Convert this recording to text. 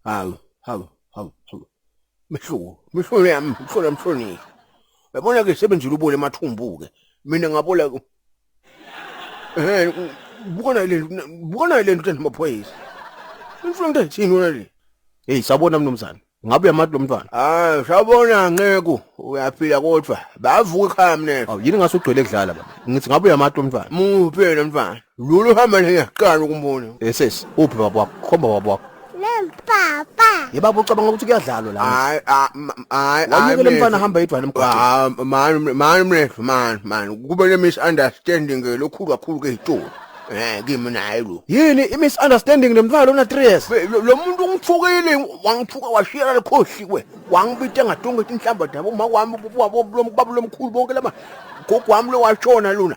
Hawu, hawu, hawu, hawu. Mehluko, mehluko yami, mehluko yami mhlonishwa. Yabona ke sebenzile ubole emathumbu ke. Mina ngabola ku. Eh, bukona le nto, bukona le nto namaphoyisa. Mhlonishwa into ethini wena le? Hey, sabona mnumzane. Ngabe uyamati lo mntwana? Ah, shabona nceku, uyaphila kodwa. Bavuka ekhaya mnene. Awu yini ngase ugcwele kudlala baba. Ngithi ngabe uyamati lo mntwana? Muphi lo mfana? Lulu hamba nje ngiyaqala ukumbona. Eh sesi, uphi baba wakho? Khomba baba wakho. Papa. Ye baba ucabanga ukuthi kuyadlalwa la. Hayi, hayi, hayi. Wayekele mfana hamba edwana emgwaqeni. Ah, man, man, mfethu, man, man. Kube le misunderstanding eh, lokhu kakhulu ke itolo. Eh kimi naye lo. Yini i misunderstanding nemfana ona 3 years? Lo muntu ungithukile wangithuka washiyela lekhohli kwe. Wangibita ngatonga inhlamba dabo uma kwami ubaba lomkhulu bonke lama. Gogo wami lo washona lona.